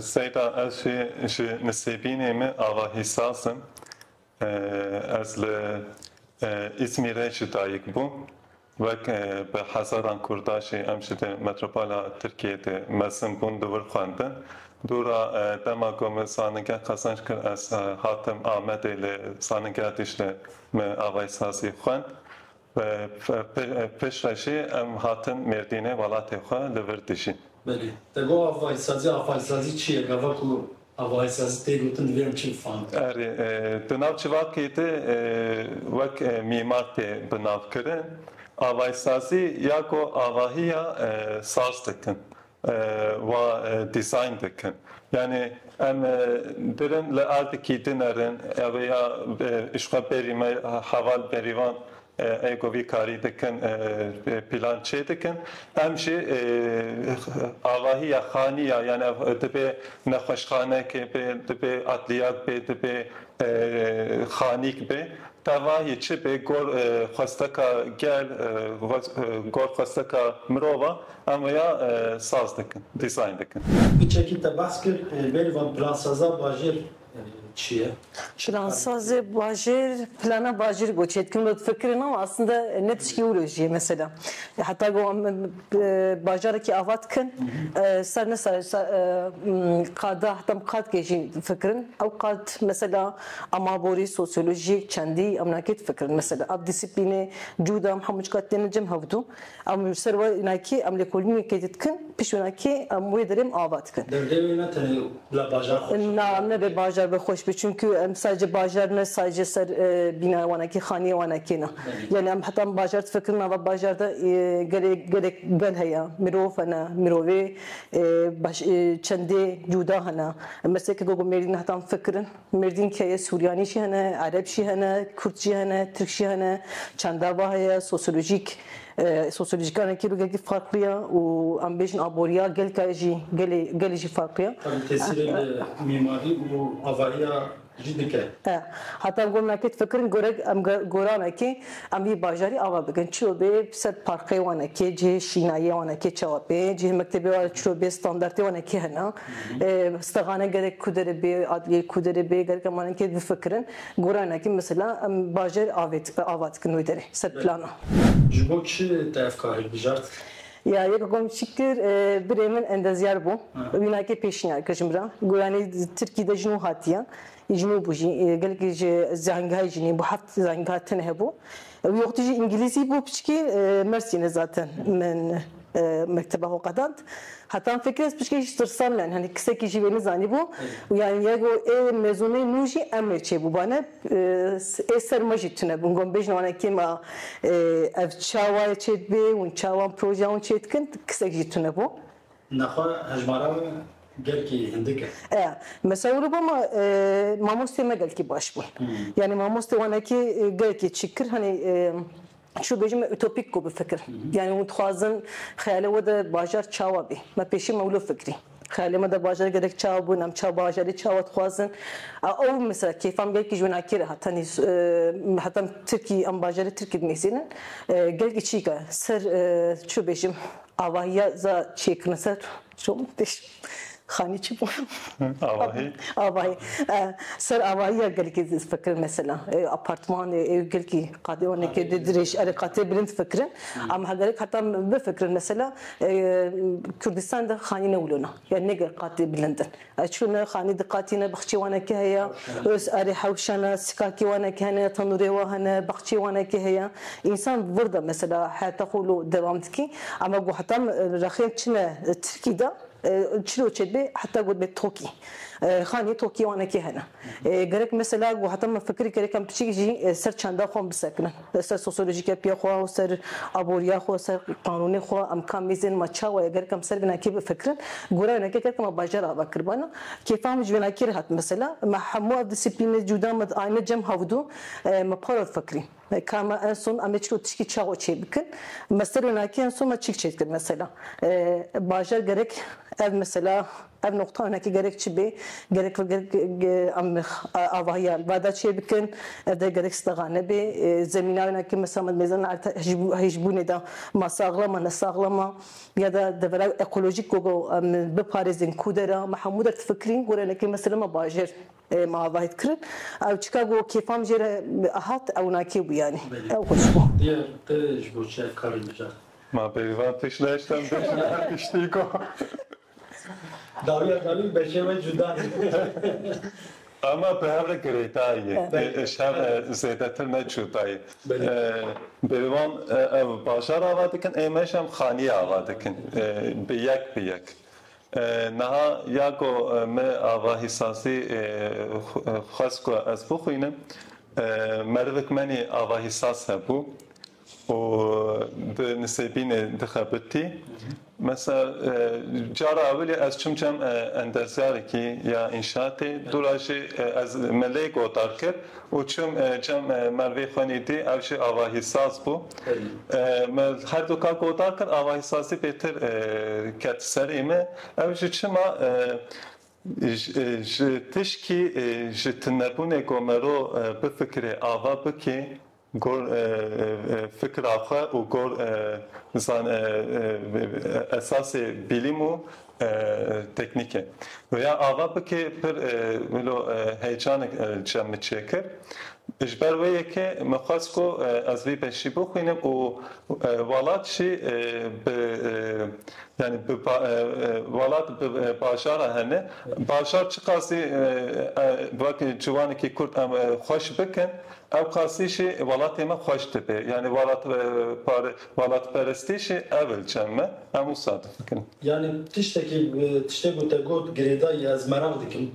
Seyda ez jî ji Nisêbînê me ava Hîsas im. Ez li Îzmîrê jî dayik bûm. Wek bi hezaran Kurda jî em ji di metropola Tirkiyeyê de mezin bûn li wir xwendin. Dûra dema ku min zanîngeh qezenç kir ez hatim Amedê li Zanîngeha Dîcle me ava Hîsasî xwend. Piştre jî em hatin Mêrdînê welatê xwe li vir dijîn. Belê. Te got avaîsazî, avaîsazî çi ye? Gava ku avaîsazî tê gotin divê em çi bifahmin? Erê, di nav civakê de wek mîmar tê bi nav kirin. Avaîsazî ya ku avahî ya saz dikin. wa design dikin. Yanî em birin li erdikî din erin ew ê ya ji xwe berî me heval berîvan ê ku vî karî dikin pîlan çê dikin. Em jî avahî ya xanî ya yanî ev dibê nexweşxanekê bê, dibê edliyat bê, dibê xanîk bê. Tevahî çi bê gor xwesteka gel, gor xwesteka mirov a Em wêya saz dikin, design dikin. Tu çekî te behs kir bêrivan plansaza bajêr çi ye? Plansazê bajêr, plana bajêr goçê dikim got fikirin ama aslında ne tişkî wilo jî ye mesela. Heta got em bajarekî ava dikin ser ne ser qada heta em qad kê jî difikirin ew qad mesela amaborî, sosyolojîk, çendî em nakê difikirin mesela ev dîsîplînê cûda em hemû çiqat tên li cem hevdû Em ji ser wê nakê em lêkolînekê didikin, pişt wê nakê em wê derê em ava dikin. Derdê wê ne tenê bila bajar xweş be. Na, nebe bajar be xweş be çimkû em sadece bajar ne sadece ser bînaya wan nakê, xaniyê wan nakê ne. Yanî em heta em bajar difikirin nava bajar de gelê gelek gel heye, mirov hene, mirovê çendê cûda hene. Em bi ser keke ku mêrîn heta em fikirin. Mêrdîn keyê Suryanî jî hene, Ereb jî hene, Kurd jî hene, Tirk jî hene, çanda va heye, sosyolojîk sosyolojîkanek jî gelkî farklı ya û em bêjin aboriya gelka jî gelê gelê jî farklı ya. Tabi tesîrê li mîmarî û avariya jî dike. Heta gormekê difikirin gorek em goranekê. Em vî bajarî ava bikin, çîro bê ser parqê wanekê, cihê şînayê wanekê çawa bê, cihê mektebê wa çîro bê, standartê wanekê hene. Stexane gerek ku derê bê, adliyeyê ku derê bê, gerek em wanekê bifikirin. Goranekê mesela em bajarî avê ava dikin wê derê ser plana. Ji bo çi te ev karê bijart? Ya yek komşî kir, birê min endezyar bû. Wînakê pêşniyar kir ji min re. Goyanî Tirkî de ji nû hatiye. Jinî bû jî gelekî ji zengehayê jinî bû heft zengeha tune hebû. Wî wextî jî îngîlîzî bû piçikî Mersîne zaten min mekteba xwe qedand. Heta min fikir ez piçikê jî tirsan me yanî kisekî jî wê nizanîbû û yanî ya ku ê mezûnê nû jî em ê çêbûbane ê ser me jî tune bûn. Got bêjin wana kêm a ev çawa ye çêdibê hûn çawa projeya hûn çêdikin kisek jî tune bû. Nexwe hejmara me gelkî hindik e. E, mesewir û bama mamostê me gelkî baş bû. Yanî mamostê wan hekî gelkî çî kir hanî çû bêjim me utopîk ku bifikir. Yanî hûn dixwazin xeyalê we de bajar çawa bî. Me pêşî me wilo fikirî. Xeyalê me de bajar gerek çawa bû, em çawa bajarî çawa dixwazin. Ew mesela kêfam gelkî ji winakî re hat. Hanî heta em tirkî em bajarê tirkî dinivîsînin gelkî çîka ser çû bêjim Avahiya za çêkirine ser şom têş xanî çi bû? Avahi. Avahi. Ser avahiya gelkî fikirin mesela. Ê apartmanê, ê gelkî qadê wanekê di dirêj erê qatê bilind fikirin. Ama hegerek heta bifikirin mesela Kurdistan de xanî ne wilo na. Yani ne gelk qatê bilind in. Ez çûme xanî diqatîne bixçê wanekî heye ûs erê hewşene sikakî wanekî hene tenûrê wa hene bixçê wanekî heye însan wirda mesela heyata xwe lo dewam dikî ema ku heta min rexên çine tirkî de çilo çêdibê heta gotibê tokî xanî tokî wanekî hene gerek mesela ku heta min fikirî kere kem piçik jî ser çanda xwe bisekinim. Li ser sosyolojîkê pê xwe û ser aboriya xwe û ser qanûnê xwe em ka mîzên ma çawa ye ger kem ser vînakê bifikirin gora wînakê ger kem bajar ava kiribana kêfa min ji vînakê re hat mesela me hemû ev disiplînê cûda min ayne cem hevdû me para difikirîn ka me en son em ê çilo tişkî çawa çê bikin me ser wînakê en son me çîk çêdikir mesela bajar gerek ev mesela. Ev noqta hinekî gerek çi bê, gerek em avahiya li ba de çê bikin, ev dê gerek stexa nebe. Zemîna wina ke mesela me di mêzana erte hişbûnê de ma saxlama ne saxlama ya da devera ekolojîk ku ku em biparêzin ku der e, me hemû der difikrîn. Gorî hinekî mesela me bajêr me avahî dikirin. Ew çika ku kêfa min jê re hat ew wina kê bû yanî. Ew xweş bû. Diyar te ji bo çi ev karê mijart? Ma pêşvan tişt nehiştem pêşvan her tiştî ku. Dawiya Kalûn beşê we cuda ye. Ama bi hev re girêta ye. Ji hev re zêdetir ne cuda ye. Bêrivan ev bajar ava dikin ê me jî em xaniyê ava dikin bi yek bi yek. Niha ya ku me ava hîsasî xwest ku ez bixwînim merivik menî ava hîsas hebû. û di nisêbînê dixebitî. Mesela cara ewilî ez çûm cem endezyarekî ya înşaatê dûra jî ez me lê gotar kir û çûm cem Mervê xwenî dî ew jî avahîsaz bû. Me herdûka gotar kir avahîsazî bêtir ket serê me ew jî çima ji tişkî ji tunebûnê ku mero bifikirê ava bikê Gor fikra xwe û gor zan esasê bîlîm û teknîke. Rêya ava bikê pir wilo heycanek cem min çêkir. Ji ber wê yekê min xwest ku ez vî beşî bixwînim û welat jî bi yanî bi welat bi bajara hene. Bajar çiqasî wek ciwanekî kurd em xweş bikin Ewqasî jî welatê me xweş dibe. Yanî welatperestî jî ewil cem e. Em wisa difikirin. Yanî tiştekî tiştê ku te got girêdayî ez meraq dikim.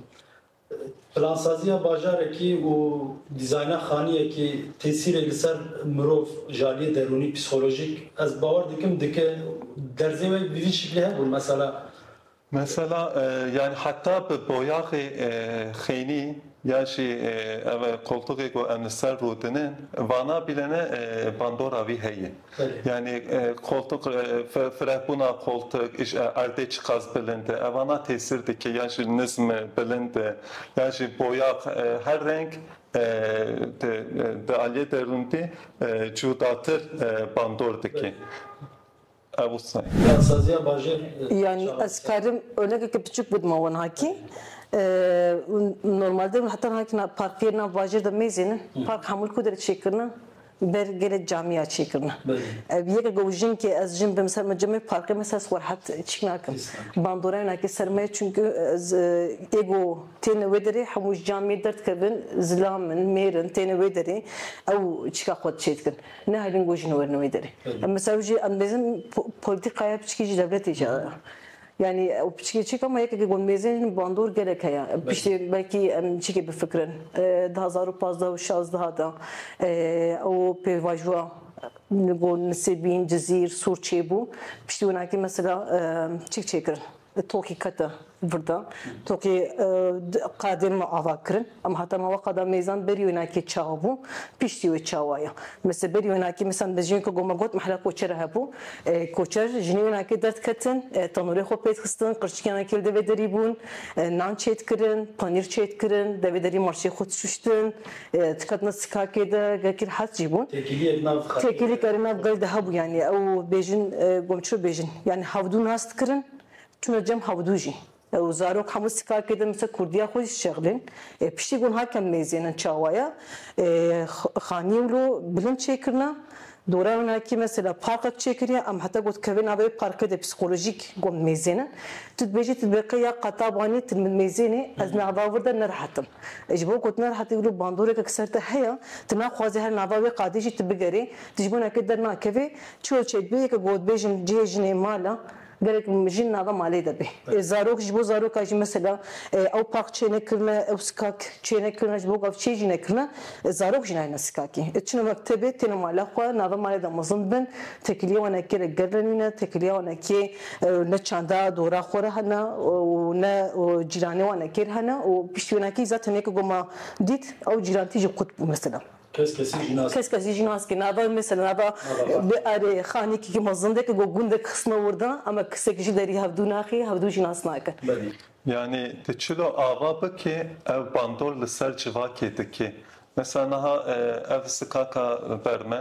Plansaziya bajarekî û dîzayna xaniyekî tesîrê li ser mirov ji aliyê derûnî, psîkolojîk ez bawer dikim dike. Derzê wê bi vî şiklê hebûn. Mesela Mesela yanî heta bi boyaxê xênî ya jî ev e koltuxê ku em li ser rûdinin vana bîlene bandora wî heye. Yanî koltuk firehbûna koltuk erdê çiqas bilind e evana tesîr dike ya jî nizm e bilind e ya jî boyax her reng di aliyê derûndî cûdatir bandor dike. Ev wisa ye. Ya saziya bajêr li ser Yani çavan ez karim örnekeke piçûk bidima wan hakî. Normalde hûn heta niha kî parkê nav bajêr de mêzînin. Park hemûl ku derê çêkirine ber gelê camîya çêkirine. Ev yek ku jin kê ez jin bim ser min cem ê parkê min ser xwerehet çîk nakim. Bandorayê nakê ser me çunku ez ê ku têne wê derê hemû ji camîyê derdikevin zilam in mêr in têne wê derê ew çîka xwe diçêdikin. Nehêlin ku jin werin wê derê. Em mesela wî jî em dêzin polîtîkaya piçikî jî dewletê jî ya. Yani ew piçikê çêka me yekekê ku em mêzê hîn bandor gelek heye. Piştê belkî em çîkê bifikirin. Di hezar û pazdeh û şazdeha de ew pêvajoya li gor Nisêbîn, Cizîr, Sûr çêbû. Piştî winakî mesela çîk çêkirin. Di tokî kete virda. Tokî qadên me ava kirin. Em hate mava qada mêzan berî wê nakê çawa bû, piştî wê çawa ye. Misa berî wê nakê misa me jin ku me got mehla koçere hebû. Koçer jinî wê nakê derdketin, tenûrê xwe pêd xistin, qirçikiyan ekê li devê derî bûn, nan çêdkirin, panîr çêdkirin, devê derî marçê xwe dişuştin. Çikatna Sikakê de gekir hes jî bûn. Têkilî kerê nav gel de hebû yanî ew bêjin gom çi bêjin yanî hevdû nas dikirin çûna cem hevdû jî ew zarok hemû Sikakê de misa kurdîya xwe jî şexlên ê piştî gon hatiye mêzînin çawaya xanî wilo bilind çêkirina Dora winakî mesela parqek çêkiriye, em heta ku dikeve nava wê parke de psîkolojîk got mêzêne. Tu dibêjî tu dibê qe ya qetabanî tu min mêzênî ez nava wir de nerihet im. Ji bo ku tu nerihet î wilo bandoreke ku ser te heye, tu naxwazî her nava wê qadê jî tu bigerî, tu ji bo neke dernakevî, çiyo çêdibê yeke ku hotbêjin cihê jinê mala, Gelek jin nava malê de bê. Zarok ji bo zaroka jî mesela ew pax çênekirine, ew skak çênekirine, ji bo gav çê jî nekirine, zarok jî nayêne skakî. Çine mektebê, têne mala xwe, nava malê de mezin bin, tekilîya wan ekê re gerr re nîne, tekilîya wan ekê ne çanda dora xwe re hene û ne cîranê wan ekê re hene û piştî wênakî zaten yekê ku ma dît ew cîrantî jî qut bû mesela. Kes kesî jî nas. Kes kesî jî nas ke nava mesela nava bi arê xanîkî ke ma zindeke ku gundek xisna wirda ema kesekî jî derî hevdû naxî hevdû jî nas nakin. Belî. Yanî tu çilo ava bikî ew bandor li ser civakê dikî. Mesela niha ev sikaka ber me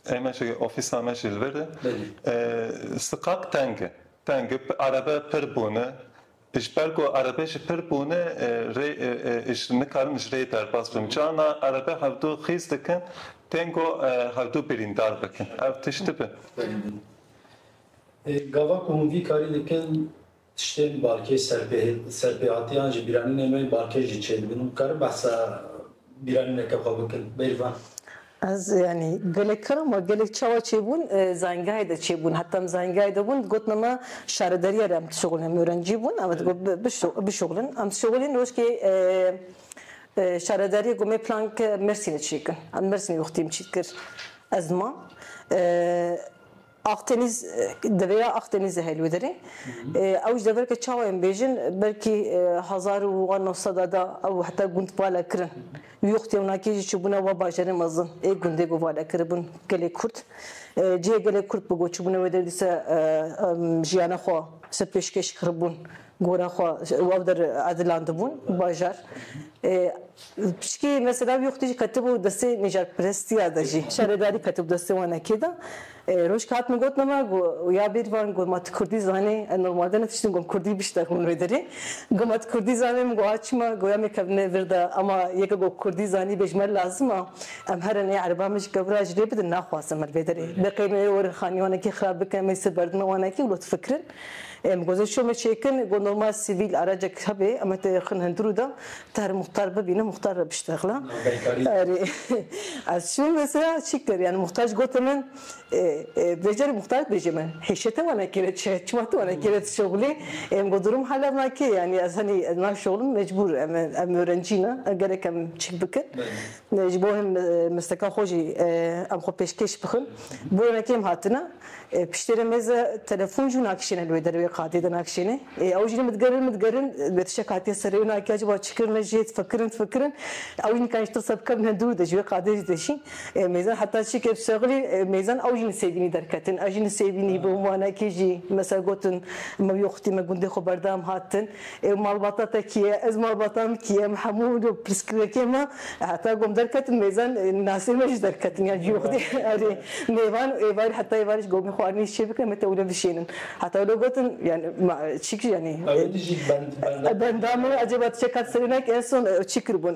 ê me jî ofîsa me jî li vir e. Belî. Sikak teng e. Teng e. Erebe pir bûne. Ji ber ku erebe ji pir bûne rê ji nikarin ji rê derbas bim. Carna erebe hevdu xîz dikin tên ku hevdu birîndar bikin. Ev tişt dibin. Gava ku hûn vî karî dikin tiştên balkê serpêhatiyan ji bîranînê me balkê jî çêdibin. Hûn dikarin behsa bîranîneke xwe bikin bêrvan? Ez yanî gelek kiram we gelek çawa çêbûn zayîngehê de çêbûn heta em zayîngehê de bûn dîgotine me şaredarîya re em dişuxulin em ûrencî bûn em dîgot bişuxulin em dişuxulin rojkê şaredarîya gomê plan ke mêrsînê çêkin em mêrsînê wextî em çîkir ez ma Akdeniz, Devê ya Akdenizê helwederê. Ew ji deverke çawa yên bêjin, belkî hezar û wa neh seda de ew heta gund vale kirin. Yuxd yew nakê jî çûbûne wa bajarên mezin ê gundê ku vale kiribûn gelê Kurd. Cihê gelê Kurd bû ku çûbûne wê der dîsa jiyana xwe ser pêşkêş kiribûn Gora xwe ew der edilandibûn bajar. Pişkî mesela wî xwedî jî ketibû destê nîjarperestiya de jî. Şaredarî ketibû destê wan ekê de. Roj ke hatime gotina me got ya bêrvan got ma tu kurdî zanî ez normalde ne tiştîm got kurdî bişta hûn wê derê. Got ma tu kurdî zanî min got a çima got ya mêkevine vir de ema yeke got kurdî zanî bê ji me lazim a em herin ê ereban min ji ke vir a ji rê bidin naxwazim min vê derê deqê me ê werin xanî wanekî xirab bikin em ê siberdime wanekî wilo difikirin. Em gozê şomê çêkin ku normal sivîl aracek hebe em tê xin hundir û da te her muxtar bibîne muxtar re biştexla. Erê ez şom mesela çi kir yani muxtar ji gote min vê carê muxtar bêje min hêşe te wana kêre çi ye çima te wana kêre tu şoxilê em ku durum hala vina kê yani ez henî ez nayê şoxilin mecbûr em em orencî ne gerek em çik bikin Ji bo hin misteka xwe jî em xwe pêşkêş bixin. Bûye me kêm hatine. Piştê re mêz e telefon jî na kişêne li wê derê wê qadê de na kişêne. Ê ew jî ne min digerin min digerin wê tiştek hatiye ser rê. Wina kec ba çi kirin me jê difikirin difikirin. Ew jî nikariye ji tirsa bikevin hin dûr de ji wê qadê jî diçîn. Ê mêzan heta çi kir şexilî mêzan ew jî li Sêbînî derketin. Ez jî li Sêbînî bûm. Wana kê jî me ser gotin me wî xwitî me gundê xwe berdam hatin. Ew malbata te kî ye? Ez malbata min kî ye? Em hemû pirsgirêkên me heta gom derketin mêzen nasên me jî derketin yan cî xwedî erê mêvan û êvarî heta êvarî ji gomê xwarinê jî çêbikin em ê tewlin bişênin heta wilo gotin yanî ma çî kir yanî benda min ecêba tu çeka tu serê nekî en son ew çî kiribûn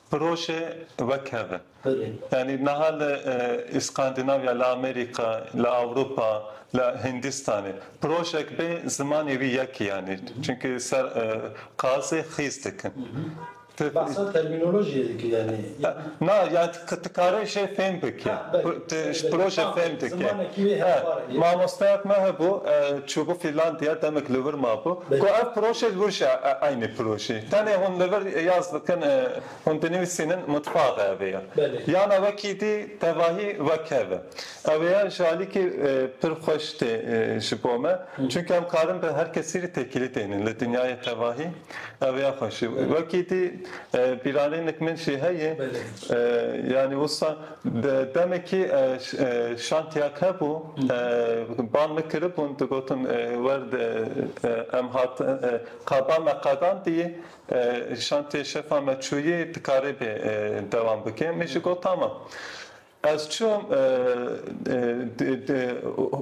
Proje wek hev e. Yanî niha li Îskandinavya, li Amerîka, li Ewropa, li Hindistanê projek bê zimanê wî yek e yanî çimkî ser qazê xîz dikin. Behsa termînolojiyê dikî yanî. Na, yanî ti karê jê fêm bikî. Ti ji proje fêm dikî. He, mamosteyek me hebû, çûbû Fînlandiya, demek li wir mabû. Got ev proje li wir jî eynî projî. Tenê hûn li vir yaz dikin, hûn dinivîsînin mitbaxe ev ê ya. Yana wekî dî tevahî wek hev e. Ew ê ya ji alîkî pir xweş tê ji bo me. Çunke em karin bi her kesî re têkilî tênin li dinyayê tevahî. Ew ê ya xweş e. Wekî dî bîranînek min jî heye, yanî wisa, Di demekî şantiyek hebû, bal min kiribûn, digotin werd em hat qada me qedandî, şantiyê şefa me çûyî dikaribê dewam bike. Min jî got tamam. Ez çûm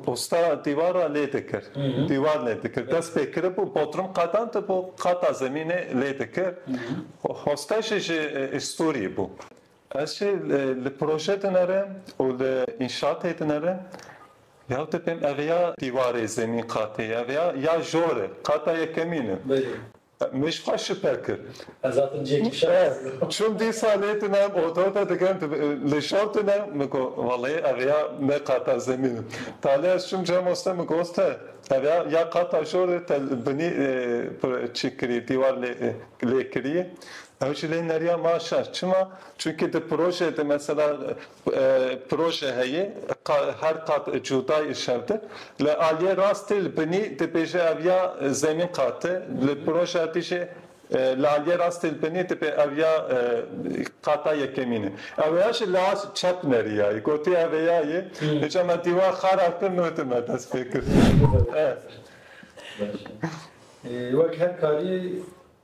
usta dîwara lê dikir, dîwar lê dikir. Dest pê kiribû, bodrum qedandibû, qata zemînê lê dikir. Hoste jî ji stûrî bû. Ez jî li proje dinere û li înşatê dinere. Ya tu pêm ev ya dîwarê zemîn qatê ye, ev ya ya jor e, qata yekemîn e. Min ji xwe şipe kir. Ez hatim cihê kişan dizînim. Çûm dîsa lê tune em oda de digem tu li jor tune. Min got welleyê ev ya ne qata zemîn e. Talê ez çûm cem oste min got oste ev ya ya qata jor e te li binî çi kirî dîwar lê kirî. Ew jî lê neriya ma şer. Çima? Çunkî di proje de mesela proje heye her qat cuda yê şer de li aliyê rastê li binî dibêje ev ya zemîn qat e, li projeya dî jî li aliyê rastê li binî dibê ev ya qata yekemîn e. Ew ya jî li aliyê çep neriya yê. Gotiye ev ê ya yê. Îca me dîwar xara kir nûdî me dest pê kir. Baş e. Wek her karî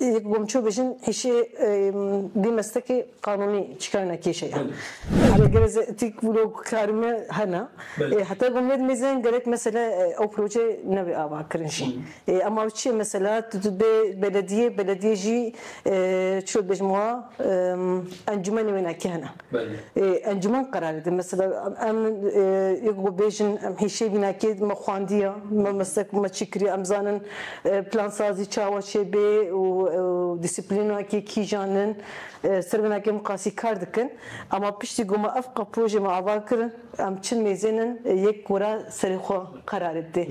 Yek gomço bijin hişê dî mestekê qanûnî çikayna kêşe ye. Hale gelek ze itîk vlog karime hene. Heta gomnê dimê ze gelek mesele ew proje nebe ava kirin jî. Ema ew çi ye mesela tu dibê belediyê, belediyê jî çilo dibêjim wa encûmenê wêne ke hene. Encûman qerar dide. Mesela em yek ku bêjin em hêşê bîna kê me xwendiya, me mesela ku me çi kiriye em zanin plansazî çawa çêbê û dîsîplîna kê kîjan in. Ser vê nakê em qasî kar dikin. Ema piştî ku me ev qepoje me ava kirin. Em çil mêzên in yek gora serê xwe qerarê didê.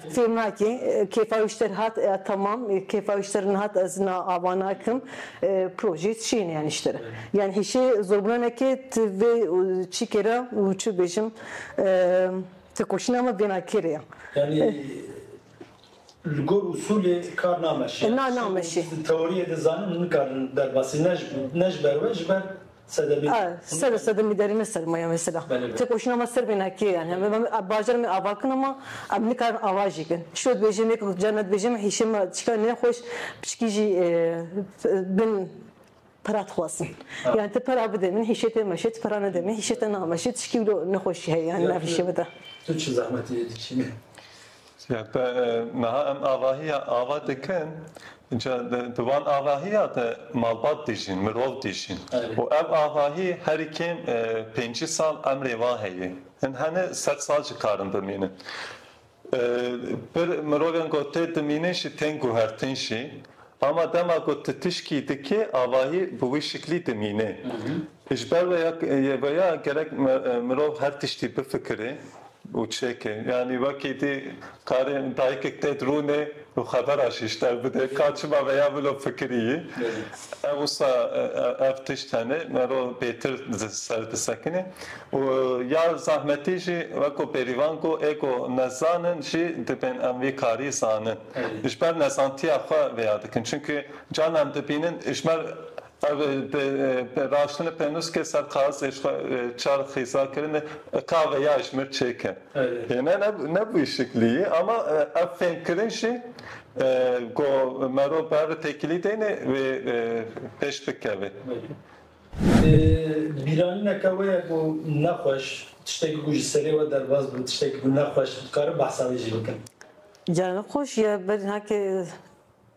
Fêm nake kêfa wî ji te re hat ya temam kêfa wî ji te re nehat ez niha ava nakim projeyê tu çiyê neyanî ji te re. Yanî hişê zorbûna neke tu vê çîkê re û çi bêjim têkoşîna me bêhna kê re ya. Yanî li gor usulê kar nameşe. Na nameşe. Teoriyê dizanin nikarin derbasî ne ji ber we ji ber Ser û sedemî derê ne sermaye ye mesela. Têkoşîna me ser bêhna kê ye? Em ê bajarê me ava bikin ama em nikarin ava jî bikin. Çiyo dibêje me ku carna dibêje me hişê me çika nexweş piçikî jî bin pera dixwazin. Yanî tu pera bidê min hişê te meşê, tu pera nede min hişê te nameşê, tu çikî wilo nexweşî heye yanî nav hişê me de. Tu çi zehmetê dikî me? Siyape, Meha em avahiya ava dikin, ca di van avahiya de malbat dijîn, mirov dijîn û ev avahî herî kêm pêncî sal emrê wan heye. Hin hene sed sal jî karin bimînin. Pir mirovên ku tê dimînin jî tên guhertin jî Hama dema ku tu tişkî dikê avahî bi wî şiklî dimîne. Ji ber vê yê ve ya gerek mirov her tiştî bifikire û çêke. Yanî wekî dî karê dayikek tê di rûnê û xebera jî ji te bide ka çima vê ya mirov fikirî yî. Ev wisa ev tişt hene mirov bêtir di ser disekine û ya zahmetî jî wek ku bêrîvan got ê ku nezanin jî dibên em vî karî zanin. Ji ber nesantiya xwe vêya dikin. Çimkî carna em dibînin ji ber ev raştinê pênûskê ser kaxizê ji xwe çar xîza kirinê ka vêya ji mir çêke. Yê ne ne bi wî şiklî yê ama ev fêmkirin jî ku merov bi hev têkilî deynê wê pêş bikeve. Bîranîneke wê ye ku nexweş, tiştekî ku ji serê we derbas bû, tiştekî ku nexweş dikarin behsa wê jî bikin. Carna xweş ya berî heke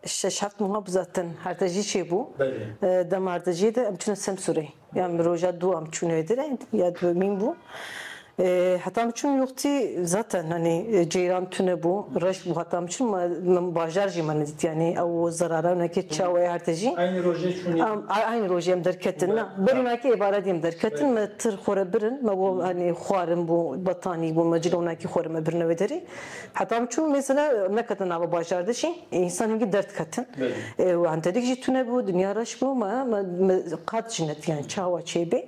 şeş heft meha bi zaten hertejî çêbû. Dema hertejiyê de em çûne Semsûrê. Ya min roja dû em çûn êdî re ya domîn bû. Heta em çûn yoxtî zaten hanî ceyran tune bû, reş bû heta em çûn min bajar jî me nedît yanî ew zerara winekê çawa ye hertejî. Eynî rojê çûnî? Eynî rojê em derketin na. Berî winekê êvaredî em derketin me tir xwe re birin me bo hanî xwarin bû, betanî bû me cilo winekê xwe re me birine wê derî. Heta min çûm mesela neketin nava bajar de jî însan hingî derd ketin û hentedik jî tune bû dinya reş bû me me qet jî nediyan çawa çê bê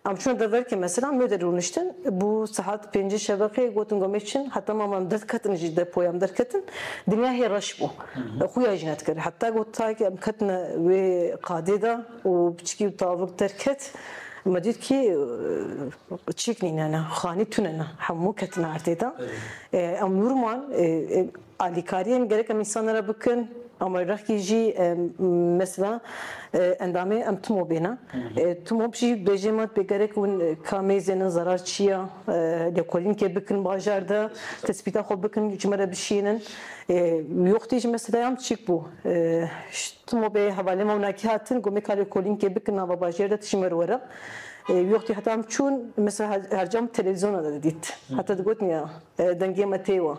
em çûna deverkê mesela mê de rûniştin bû saet pêncî şeveqê gotin gomê çin heta mama em derd ketin jî depoya em derketin dinya hê reş bû xuya jî nedikir heta got tayê em ketine wê qadê de û piçikî û tavik derket me dît kî Çîk nîne ne, xanî tune ne, hemû ketine erdê de. Em nûrman alîkariyên gerek em însanan re bikin, em werrexkî jî mesela endamê em tim o bêne. Tim op jî bêjê me pê gerek hûn kamê zênin zerar çi ye, lêkolînkê bikin bajar de, tespîta xwe bikin ji me re bişînin. Wextê jî meselaya em çîk bû, tim o bê hevalên me winakî hatin, gomê ka lêkolînkê bikin nava bajêr de tije me re were. Yoxtî heta em çûn mesela her cam televîzyona de didît. Heta digotin ya dengê me tê wa.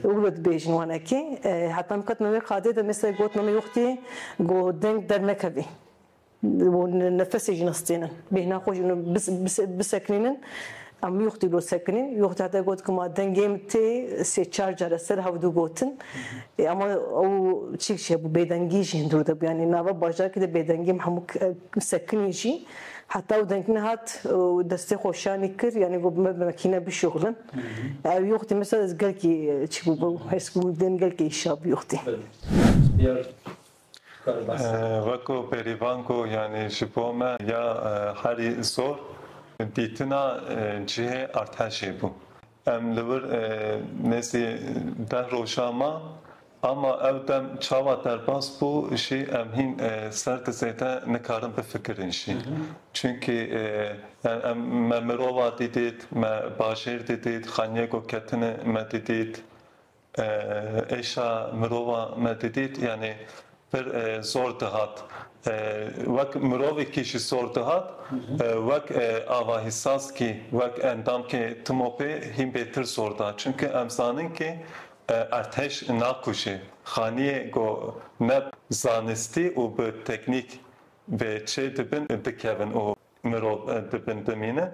Û wilo dibêjin wanekî. Heta em ketina wê qadê de mesela gotina me yoxtî got deng dernekevî. Û nefesê jî nestênin. Bêhna xwe jî bisekinînin. Em lûxtî lo sekinîn. Lûxtî hate got ku ma dengê min tê sê çar car ez ser hewdû gotin. Ê ama ew çîk jî hebû bêdengî jî hundir de bû. Yanî nava bajarkî de bêdengî em hemû sekinîn jî. Heta ew deng nehat û destê xwe şanî kir yanî got me bi mekîne bişuxilin. Ew lûxtî min ser ez gelkî çi bûbû. Hêrs bûm din gelkî îşa bû lûxtî. Weko pêrîvan ku yanî ji bo me ya herî zor dîtina cihê artehşê bû. Em li wir nêzî deh rojan man ama ew dem çawa derbas bû jî em hîn ser di zêde nikarin bifikirin jî. Çunkî yan em me mirova dîdît, me bajêr dîdît, xaniyê ku ketine me dîdît. Êşa mirova me didît yanî pir zor dihat. Wek mirovekî jî zor dihat, wek avahîsaskî, wek endamkê TMOPê hîn bêtir zor dihat. Çimkî em zanin kî erdhej nakujê. Xaniyê ku ne bi zanistî û bi teknîk bê çêdibin dikevin û Mirov dibin dimînin.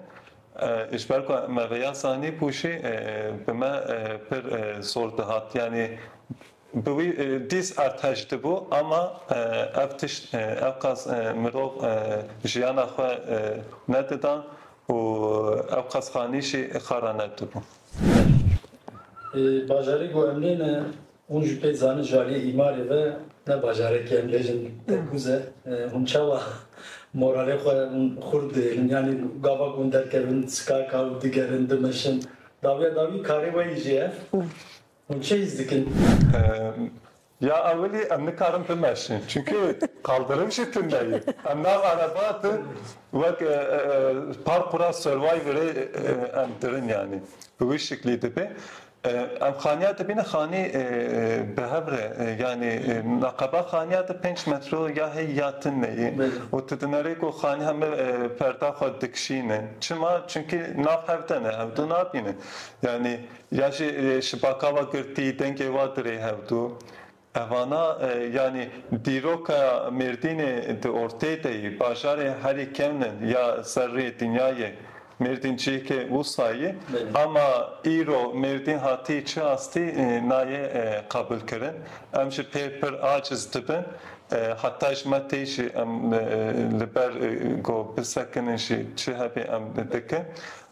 Ji ber ku me vê yasa nêpûşî bi me pir zor dihat. Yanî bi wî dîs erdhej dibû ama ev tişt ewqas mirov jiyana xwe nedidan û ewqas xanîşî xwe re nedibû. Bajarî ku em nê ne Hûn ji pê dizanin ji aliyê îmarê ve ne bajarek e em bêjin tekûz e. Hûn çawa moralê xwe xurt dihêlin? Yanî gava ku hûn derkevin skaka û digerin, dimeşin dawiya dawî karê we yî jî e. Hûn çi hîs dikin? Ya ewilî em nikarin bimeşin çimkî qaldirin jî tune ye. Em nav ereba de wek parkûra Survivorê em dirin yanî bi wî şiklî dibe. Ev xaniya dibîne xanî bi hev re yanî neqeba xaniya di pênc metro ya heyî ya tin de yî û tu dinerê ku xanî heme perda xwe dikişîne. Çima? Çimkî nav hev de ne hewdû nabîne. Yanî ya jî şibaka wa girtî dengê wa dirê hewdû. Evana yanî dîroka Mêrdînê di ortê de yî, bajarê herî kevnin ya ser rê dinya yê. Mêrdîn ciyekê wisa yî. Ama îro Mêrdîn hatî çi astî nayê qabilkirin. Em ji pê pir aciz dibin. Heta ji me tê jî em li ber ku bisekinin jî çi hebê em dikin.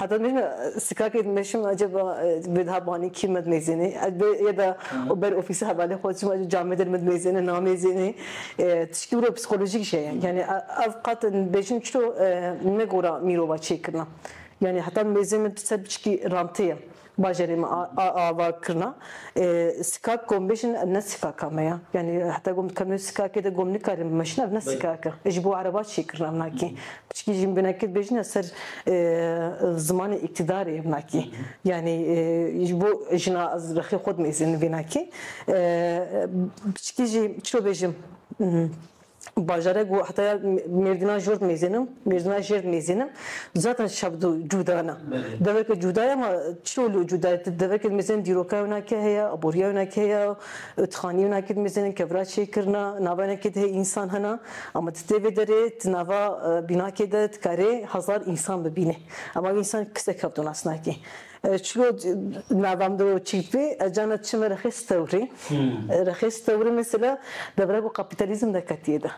Heta nê ne sikakê meşim acaba bê diha banî kî me dinêzênê ez bê ya da û ber ofîsa hevalê xwe çima ji camê der me dinêzêne namêzênê tişkî wiro psîkolojîk jî ye yanî ev qet dibêjin çiro ne gora mîrova çêkirina yanî heta mêzê min ser biçikî rantê ye. Bajarê me a ava kirina. Sikak ku em bêjin ev ne sikaka me ya. Yanî heta ku em dikevin wê sikakê de ku em nikarîn bimeşin ev ne sikak e. Ji bo ereba çê kirina minakî. Piçikî jî binekê dibêjin li ser zimanê îktîdarê minakî. Yanî ji bo jina ez rexê xwe dimezînim vînakî. Piçikî jî çi bêjim. Bajare ku heta ya mêrdîna jort mêzên in, mêrdîna jêrd mêzên in zaten şebd û cûda ne. Deveke cûda ye ma çiyo li cûda ye? Deveke di mêzên in dîroka wina kê heye, aboriya wina kê heye, otixaniye wina kê di mêzên in kevra çêkirina, nava wina kê de heye însan hene. Ama tu tê vê derê, tu nava bînakê de dikarî hezar însan bibînî. Ama wî însan kesek hevdûnas nake. Çilo navam do çîpî cana çime rexis tewrî. Rexis tewrî mesela devre ku kapîtalîzm de ketiye de.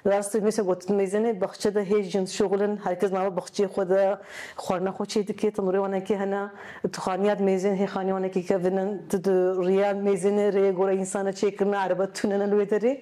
Rast e mîşa gotin mêzenê baxçe de hê jin şixul in, her kes nava baxçeyê xwe de xwarina xwe çê dike, tenûrê wan eke hene, tu xaniya di mêzên hê xaniya wan eke kevin in, tu di riya mêzenê rê gora însan e çêkirina, erebe tune ne li wê derê.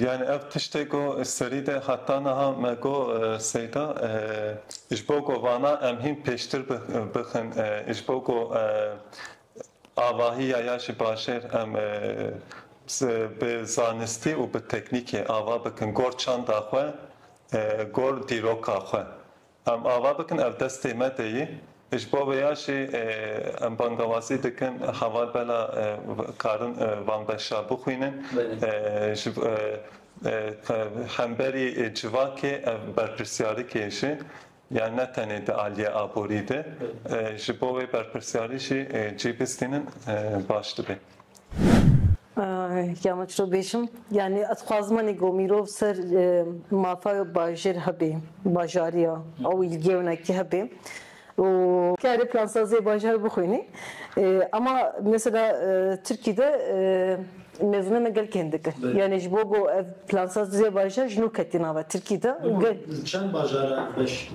Yani ev tiştê ku serî de heta niha me got Seyda ji bo ku vana em hîn pêştir bixin ji bo ku avahiya ya ji bajêr em bi zanistî û bi teknîkê ava bikin gor çanda xwe, gor dîroka xwe. Em ava bikin ev destê me de ye. Ji bo vê ya jî em bangewazî dikin heval bela karin van beşa bixwînin. Ji hemberî civakê ev berpirsyarikê ji ya ne tenê di aliyê aborî de ji bo wê berpirsyarî jî cî bistînin baş dibe. Ya min çi bêjim yanî ez xwazim anî ku mîrov ser mafa bajêr hebê bajariya ew îlgêwnekî hebê û karê plansaziyê bajar bixwînî ema mesela Tirkî de mêzûnê me gelkî hindik in yanî ji bo ku ev plansaziyê bajar ji nû ketî nava Tirkî de. Li çend bajaran beş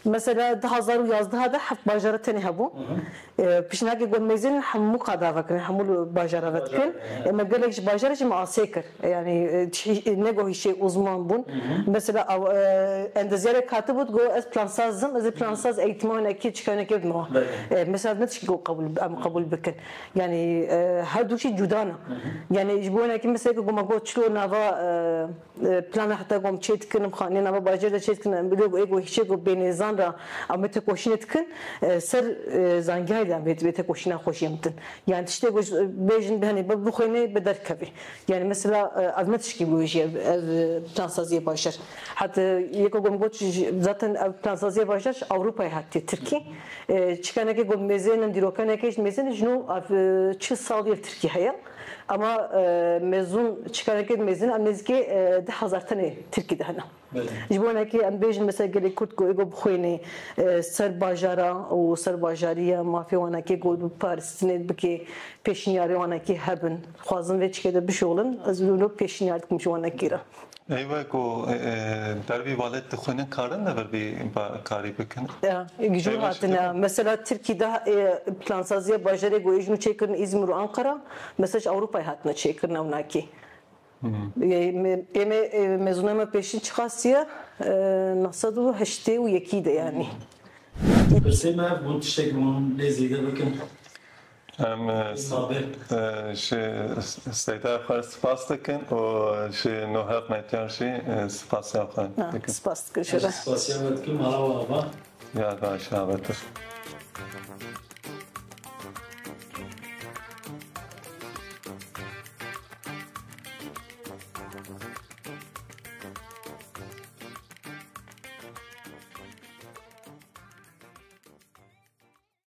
Mesela di hezar û yazdeh de heft bajara tenê hebû. Pêşniyargeh got mêzên li hemû qada vekirin, hemû li bajara ve dikin. Ê me gelek ji bajarê jî me asê kir. Yanî ne ku hişê uzman bûn. Mesela endezyarek hatibû digot ez plansaz im, ez ê plansaz eğîtmanekê çikanekê bime wan. Ê mesela ne tişt ku em qebûl bikin. Yanî herdû jî cûda ne. Yanî ji bo wênekê meseleke ku me got çilo nava Plana heta gom çê dikin em xaniyên nava bajêr de çê dikin em bi lê ku hîşê ku bênê zan ra em vê tekoşînê dikin ser zangiyayê de em vê vê tekoşîna xwe jiyem din. Yanî tiştê ku bêjin henê bi bixwînê bi derkevê. Yanî mesela ev ne tişkî wê jî ye ev plansaziyê bajêr. Heta yê ku gom got zaten ev plansaziyê bajêr ji Ewropayê hatiye Tirkî. Çikanekê ku mêzeyên em dîrokenekê mêzeyên jin û ev çil salî li Tirkî heye. Ema mezun çikareke di mezin em nêzîkê deh hezar tenê Tirkî de hene. Ji bo hinekê em bêjin mesela gelê Kurd ku êgo bixwênê ser bajara û ser bajariya mafê wan heke ku biparistine bike pêşniyarê wan heke hebin. Dixwazin vê çike de bişoxlin ez wilo pêşniyar dikim ji wan heke re. Eywe ku ber vî valet dixwînin karin li vir vî karî bikin? Ya, jûr hatine. Mesela Tirkî de plansaziya bajarê ku êjin û çêkirin Îzmir û Anqara, mesela ji Ewropayê hatine çêkirin ewnakî. Êmê mezûnay me pêşîn çiqasiye neh sed û heştê û yekî de yanî. Pirsê me bû tiştekî hûn lê zêde bikin? Em ji Seyda xwe spas dikin û ji no hevmetiyan jî spasiyan xwe dikin. Spas dikin ji re. Spasiyan me dikin mala we ava. Ya baş avatir.